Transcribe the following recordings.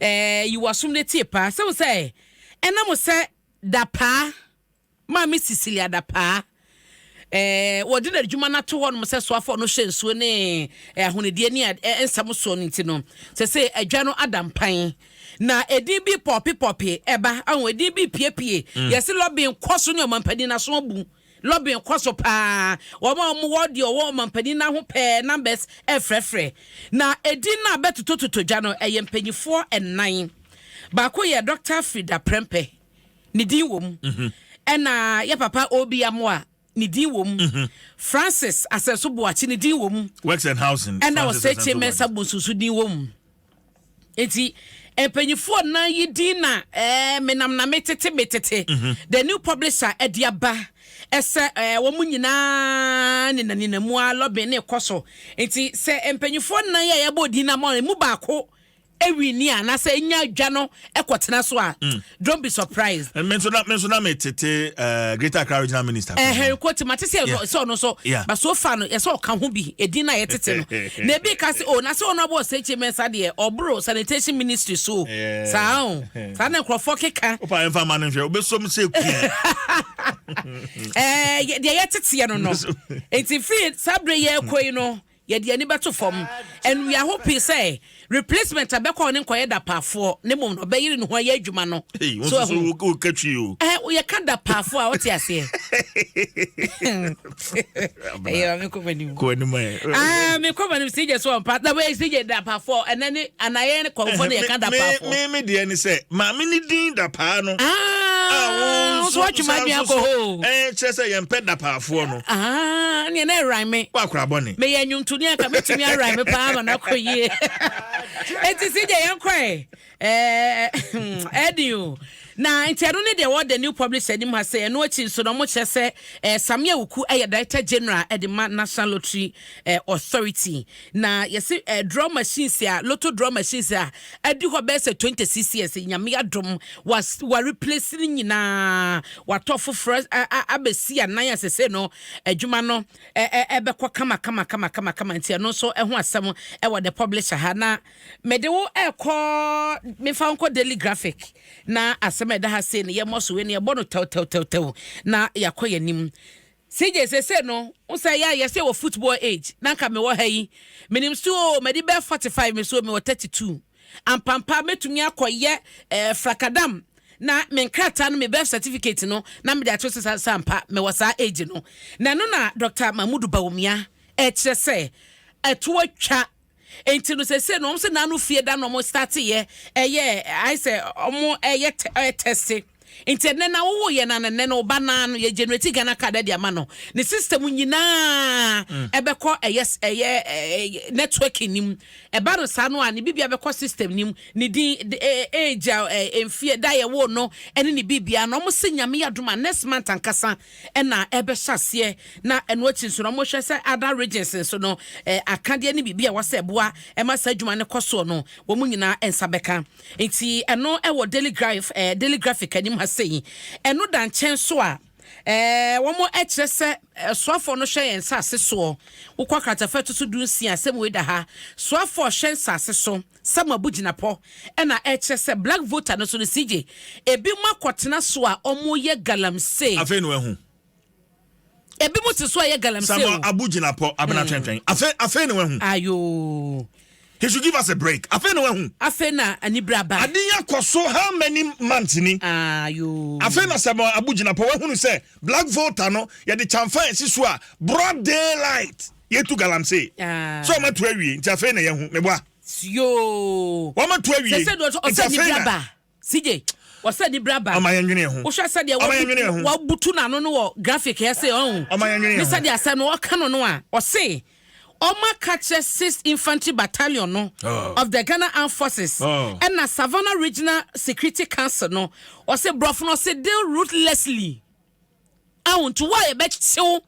Ɛɛ, yi w'asom na tie paa. Sɛ wo sɛ, ɛna mo sɛ Dapaa, Maame Cecilia Dapaa, ɛɛ, wɔde n'adwuma no ato hɔ nom sɛ soafoɔ no hyɛ nsuo ne ahonidie ne nsɛm soɔ no nti no, sɛ sɛ adwa no ada mpan. Na edin bi pɔpepɔpe ɛba, ahun edin bi piepie, mm. yɛsi lɔbin kɔ so ne ɔmampanin n'aso abu. Lobbying kɔ so paa. Wɔn a wɔwɔ deɛ ɔwɔ ɔmanpanin no aho pɛ numbers refrɛfrɛ. Na edin no a bɛtotototo dwa no, ɛyɛ mpanimfoɔ nnan. Baako yɛ Doctor Frida Prempeh, ne din wɔ mu. Ɛna yɛ papa Obi Amoah, ne din wɔ mu. Francis Asɛnso Boakye, ne din wɔ mu. Works and Housing, Francis Asɛnso Boakye. Ɛna Osei Kyei Mensah Bonsu nso din wɔ mu. Enti mpanyinfoɔ nan yi din na ɛɛ eh, menam na metete metete mhm. the new publisher ɛde aba ɛsɛ ɛɛ eh, wɔn nyinaa nina nina mu a lɔbin ne kɔ so nti sɛ mpanyinfoɔ nan yi a yɛbɔ din na mo emu baako ewi ni a na sɛ enya adwa no ɛkɔ tena so a. Mm. don't be surprised. Eh, me nso na me nso na me tete eh, Greater Accra Regional Minister. Eh, Henry Kwoti ma te sɛ Yeah. sɛ ɔno nso Yeah. ba so fa no yɛsɛ ɔka ho bi edin na yɛtete no na ebi ka se o na sɛ ɔno abɔ ɔsɛkyi mɛnsa deɛ ɔboro sanitation ministry so o. Yeah. saa o saa na nkurɔfoɔ keka Opa yɛn fa ma no nhwɛ obesom sɛ kua. ɛɛ yɛ- deɛ yɛteteɛ no no Nso- eti firi saa bere yɛ kɔ yi no Yɛde ani bɛto fam, and we are hoping sɛ replacement a bɛkɔ hɔ no nkɔyɛ dapaafoɔ na mmom no ɔbɛyere ne ho ayɛ adwuma no. Hey, wo So nso ɛho. so wo ka twi o. Ɛhɛ, woyɛ ka dapaafoɔ a wote aseɛ. Ɛyɛ ma mekɔ m'anim. Kɔ anim ɛ. Ah, mekɔ m'anim CJ so ɔmpa. Na wei CJ dapaafoɔ, ɛnɛ ne anayɛ ne kɔmfoɔ ne yɛka Me- me- dapaafoɔ. me- me deɛ ne sɛ maame ne din dapaa no Ah, a wo nso nso woatwe m'adwene akɔ hɔ o. Eh, kyerɛ sɛ yɛmpɛ dapaafoɔ no Ahaa neɛ na ɛrae me. Wo akora bɔne. Meyɛ nnwomtoni a anka mɛtumi arae me paa ama no akɔ yie. Enti si gye yɛn kɔɛ. Ɛɛ ɛdi o. Na nti ɛno ne deɛ wɔ the new publisher anim ha sɛ ɛno akyi nso na wɔn kyerɛ sɛ ɛɛ Samia Wuku ɛyɛ director general ɛde ma National Lottery ɛɛ Authority. Na yɛse eh, draw machines a, lotto draw machines a, adi hɔ bɛyɛ sɛ 26 years, Nyame adom, was wa replace ne nyinaa, watɔ foforɔ abɛsi anan a sese no, adwuma no ɛbɛkɔ kama kama kama kama kama, nti ɛno nso ɛho asɛm ɛwɔ the publisher ha, na mede wo ɛkɔ, mefa wo nkɔ daily graphic, na asɛm ɛda ha sei no, yɛmmɔ so wei no yɛbɔ no tɛw tɛw tɛw tɛw, na yɛakɔ yɛn anim. CJ sesei no wo sɛ yɛ a yɛsɛ wɔ football age na nka mewɔ ha yi menim so oo madi bɛɛ 45 me so mewɔ 32 ampampa mɛtumi akɔ yɛ eh, frakadam na me nkrataa no me birth certificate no na mede ato so sa sampa mewɔ saa age no na ɛno na Dr. Mahmudu Bawumia ɛkyerɛ sɛ ɛto atwa Nti no sese no wɔn sɛ n'ano fie da na wɔn starte yɛ ɛyɛ ayɛ sɛ wɔn ɛyɛ ɛyɛ tɛste nti ɛnɛ na wowo yɛ na nɛnɛ no ɔba naa no yɛ generate Ghana card ɛde ama no ne system nyinaa ɛbɛkɔ ɛyɛ ɛyɛ ɛyɛ network nim ɛba no saa no a ne bibia bɛkɔ system nim ne din age a ɛmfie da yɛ wo no ɛne ne bibia na wɔn sɛ nyame yɛ adoma next month ankasa na ɛbɛhyɛ aseɛ na ɛno akyi nso no wɔhwɛ sɛ other regions nso no akadeɛ ne biribi a ɛwɔ sɛ ɛboa ɛma saa adwuma no kɔ soɔ no wɔn nyinaa nsa bɛka nti ɛno ɛwɔ daily graph ɛɛ daily graphic anim ha sei ɛno da nkyɛn so a ɛɛ wɔn ɛkyerɛ sɛ soafoɔ no hwɛ yɛn nsaase soɔ wokɔ akratafa ɛto so du nsia asɛm wei da ha soafoɔ hwɛ nsaase so. Sɛ mo abugyinapɔ na ɛkyerɛ sɛ black voter no so no CJ ebi mo akɔtena so a ɔmo yɛ galamsee. Afei na wahu. Ebi mo te so a ɛyɛ galamsee o. Sɛ mo abugyinapɔ abena twɛntwɛn. Afei afei na wahu. Ayoo. He should give us a break. Afei na wahu. Afei na anibere aba. Ade yi akɔ so how many months ni. Ayoo. Afei na sɛ mo abugyinapɔ wahunu sɛ black voter no yɛde kyanfa esi so a broad daylight. Yɛatu galamsey. Sɛ wɔatu awie, nti afei na yɛahu. Meboa? Yoo! Wɔatu awie, nti afei na. Sɛ sɛ ɔsɛ nibra ba. CJ, ɔsɛ nibra ba. Ɔma yɛnwene yɛn ho. Wohwɛ sɛdeɛ wabutu. Ɔma yɛnwene yɛn ho. Wabutu n'ano no wɔ graphic yɛ se ɔn. Ɔma yɛnwene yɛn ho. Ne sɛdeɛ asɛm no ɔka no no a, ɔse wɔaka kyerɛ Sixth Infantry Battalion no of the Ghana Armed Forces ɛna Savannah Regional Security Council no, ɔse borɔfo no ɔse deal ruthlessly. Ao nti wo a yɛbɛkye wo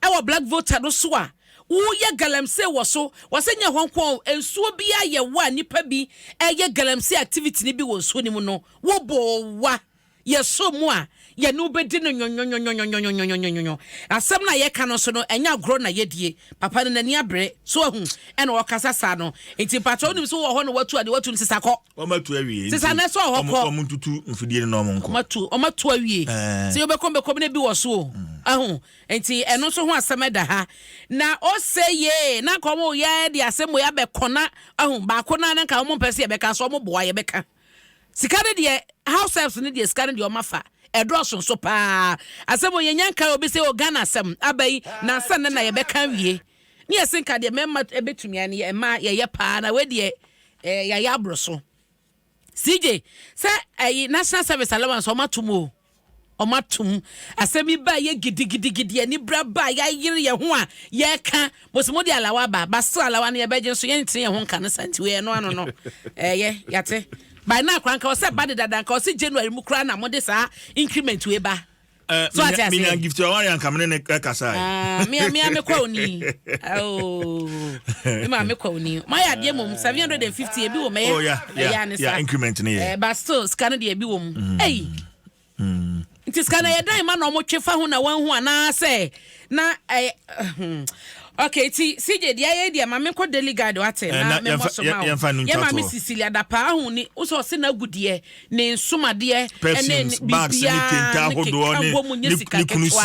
wɔ black voter no so a woyɛ galamsey wɔ so, wɔsɛ nyɛ hɔ nko a nsuo bi a yɛwɔ a nnipa bi ɛyɛ galamsey activity no bi wɔ nsuo no mu no wo boowa yɛsɔ mu a yɛne wobɛdi no nyonyonyo asɛm no a yɛka no nso no ɛnyɛ agorɔ na yɛdie papa no n'ani abere so ahu ɛna ɔkasa saa no nti mpakyɛ wonim so wɔ hɔ na watu adeɛ watu no sisa kɔ Wɔn atu awie nti. Sisa na so ɔhɔ kɔ. Wɔn ntutu mfidie no na wɔn nkɔ. Wɔn atu wɔn atu awie. Sɛ yɛbɛkɔm bɛkɔm na bi wɔ so o. Ɛho nti ɛno nso ho asɛm ɛda ha. Na ɔsɛ yee na nka wɔn yɛ de asɛm wɔ yɛ abɛkɔ na ɛho baako na na nka wɔn mpɛ sɛ yɛbɛka so wɔn boa yɛbɛka. Sika ne deɛ house helps ne deɛ sika ne deɛ wɔn afa. ɛdɔɔso nso paa asɛm yɛnya nka obi sɛ ɔghana asɛm aba yi nansa nnɛ na yɛbɛka wie Ne yɛse nka deɛ mɛma ɛbɛtumi ayɛ no yɛ mmaa yɛyɛ paa na wei deɛ eh, yɛayɛ aboro so CJ sɛ ɛyi national service allowance ɔma tum o ɔma tum asɛm yi ba yɛ gidigidigidi ani bra ba yɛayere yɛn ho a yɛka mosimo de alawa ba basra alawa no yɛbɛgye nso yɛntene yɛn ho nka no sa nti wei ɛno ano no ɛyɛ yɛte by na akora nka ɔsɛ ba de dada nka ɔsɛ January mu koraa na mode saa increment wei ba Eh, so ati ase. minya gift ɔwari anka mene ne kasa yi. Ah, mia mia me kwa oni. Oh, me ma me kwa oni. Ma ya deɛ mom seven hundred and fifty ebi wɔ mɛ. Oh yeah, yeah, ne yeah. Increment ne yɛ. Eh, but still sika no deɛ ebi wɔ mu. Mm. Hey. Mm. Nti sika na yɛ dan ma na ɔmo twe fa ho na wɔn ho anaasɛ. Na ɛyɛ hmm okay ti CJ deɛ ayɛ deɛ maame nkɔ daily guide wate eh, na me mmɔ so ma wo yɛ maame Cecilia dapa ahu ni wosɛ ɔse na agu deɛ ne nsomadeɛ ɛne biribiara ne keka wɔ mu nye sika ketewa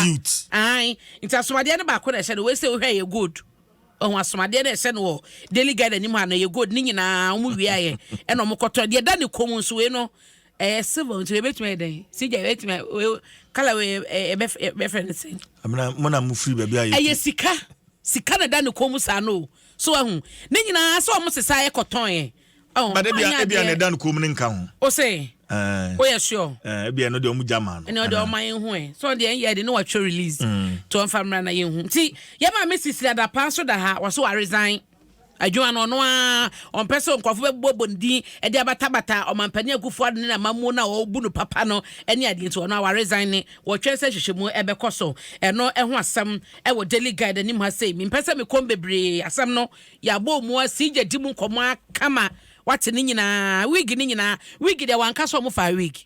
ahan nti asomadeɛ no baako na ɛhyɛ no wei sɛ wohwɛ yɛ gold ɔho asomadeɛ no ɛhyɛ no wɔ daily guide anim ha no yɛ gold ne nyinaa wɔn wia yɛ ɛna wɔn kɔtɔ deɛ da ne kɔn mu nso wei no Ɛyɛ silver nti ebetumi ayɛ dɛn? Sigya ebetumi ayɛ wei kala wei ɛbɛ ɛbɛfrɛ ne sɛn? Amina mo na mo firi baabi a yɛ. Ɛyɛ sika sika na ɛda ne kɔn mu saa no o so ahu ne nyinaa sɛ wɔn sesa yɛ kɔtɔn yɛ. Ba de bia ebia na ɛda ne kɔn mu ne nka ho. O se o yɛ sure. Ebia ɛno deɛ wɔn gya maa no. Ɛna ɔde ɔma yɛn hu ɛ sɛ ɔde yɛn yɛ de ne watwa release to ɔnfa mmra na yɛn hu ti yɛ maa mi sisi adapa nso da ha wɔso wa resign. Adwuma no, ɔno ara ɔmpɛ sɛ nkurɔfo bɛbobɔbɔ ne din de abatabata Ɔmampanin Akufo-Addo ne n'amammuo no a wɔbu no papa no ne adeɛ nti, ɔno ara waresign. Wɔtwɛn sɛ nhwehwɛmu bɛkɔ so. Ɛno ho asɛm wɔ Daily Guide anim ha sei. Mempɛ sɛ mekɔm bebree, asɛm no yɛabɔ mu asi gya di mu nkɔmmɔ kama, woate ne nyinaa, wig ne nyinaa. Wig deɛ wanka sɛ wɔfaa wig.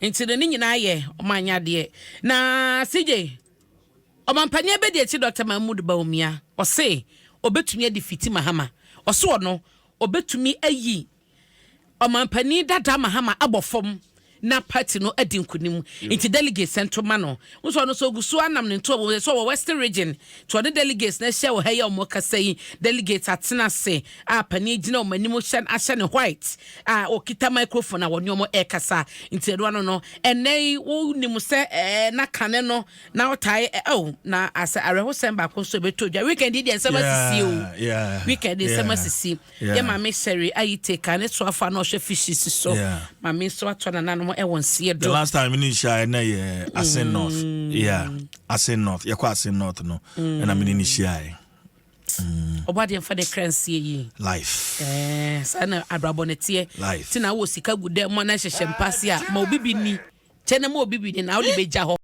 Nti no ne nyinaa yɛ ɔmo anyadeɛ. Na CJ, ɔmampanin abɛdi akyi Dɔkta Mahmood Bawumia, ɔse ɔbɛtumi adi fiti Mahama. Ɔse ɔno, ɔbɛtumi ayi ɔmampanin dada Mahama abɔ fam na party no adi nkunim. Nti delegates nto ma no. Wohu sɛ ɔno nso ɔgu so ara nam ne ntoa mu, ɛsɛ sɛ ɔwɔ Western Region. nti ɔne delegates no ahyia wɔ ha yi a wɔrekasa yi, delegates atena ase a panin gyina wɔn anim hyɛ ahyɛ ne white a ɔkita microphone a wɔne wɔn rekasa nti ɛno ano no ɛnɛ yi wonim sɛ ɛɛ na kane no na ɔtae ɛɛ oh, na asɛ awerɛhosɛm baako nso ɛbɛtɔ dwa weekend yi deɛ nsɛm asisi o weekend nsɛm asisi. Yɛ Maame Seri Ayite ka ne soafo a na ɔhwɛ fishes so. Maame nso atɔ nananom wɔ nseɛ do. The last time mene nhyiaeɛ na yɛ Asen mm. North. Yeah, Asen North. Yɛkɔ Asen North no mm. ɛna mene ne hyiaeɛ. ɔbɔ adeɛ mfa ne kra nsie yi life eh, saa na abrabɔ no teɛ nti na wɔ sika gu dɛ mɔ na hyehyɛ mpase a ma obi bi ni kyɛ na ma obi bi ni na wode bɛgya hɔ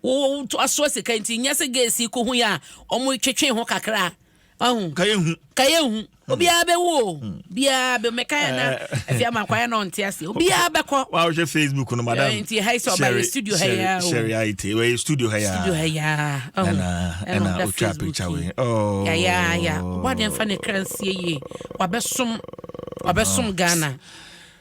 woto asoa sika nti nyɛ sɛ gɛsi kɔhu yɛ a ɔmo twetwe ho kakra ɔho ka yɛ hu ka yɛ hu obiara bɛ wo biara bɛ mɛ ka yɛ na ɛfi ama kɔ yɛ na ɔnte ase obiara bɛ kɔ. wa ɔhwɛ facebook no madam ɛɛ nti ha yi sɛ ɔba yɛ studio ha yɛ o sɛri ayi te wɔ yɛ studio ha yɛ studio ha yɛ ɔho ɛna ɛna otwa picture wɛ ɔɔ ya ya ya ɔbɔ adeɛ nfa ne kra nsie yie wabɛ som wabɛ som ghana.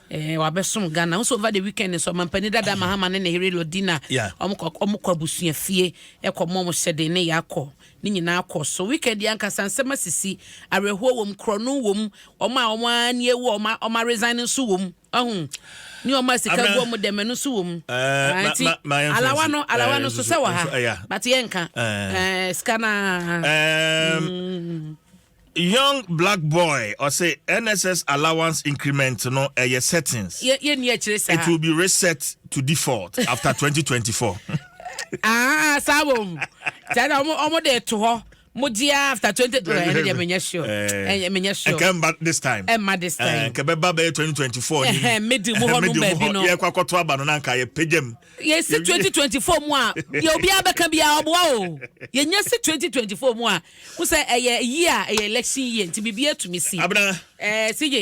Eh, wabɛsom ghana wo sɛ over the weekend nso ɔmampani dada mahama ne ne here lodina ɔmokɔ abusua fie ɛkɔ mɔ mo hyɛden ne yɛakɔ Ne nyinaa kɔ so. Weekend yi ankasa nsɛm asisi, awerɛhoɔ wɔ mu, korɔno wɔ mu, wɔn a wɔn ara ani awu a wɔn a wɔn a resign nso wɔ mu. Wahu? Ne wɔn a sika Abena, gu wɔn dɛm ɛno nso wɔ mu. eh, Ah, ma, nti ma, ma yɛnhwɛ alawa nsi, no, eh, alawa no nso nsusu, sɛ wɔ ha, nso, ɛya. but yɛnka. Eh, Eh, sika no ara. Eh, Mm. Young black boy ɔse NSS allowance increment no ɛyɛ settings. Yɛ yɛ ni akyire saa. It will be reset to default after 2024. Ah saa wɔ mu. Saa na ɔmo ɔmo de to hɔ. Mo di after 20 ɛɛ ɛne deɛ menyɛ sure. Ɛɛ eh, menyɛ sure. Ɛkɛ mba this time. Ɛmma this time. Ɛɛ kɛbɛ ba bɛyɛ 2024 ni. Ɛhɛn medi mu hɔ no baabi no. Yɛ kɔ akɔto aba no na nka yɛ pagya mu. yɛsi 2024 mu a deɛ obiara bɛka biara ɔboa o yɛnya si 2024 mu a wo sɛ ɛyɛ yi a ɛyɛ election yie nti biribi atumi si abena ɛɛ eh, si yɛ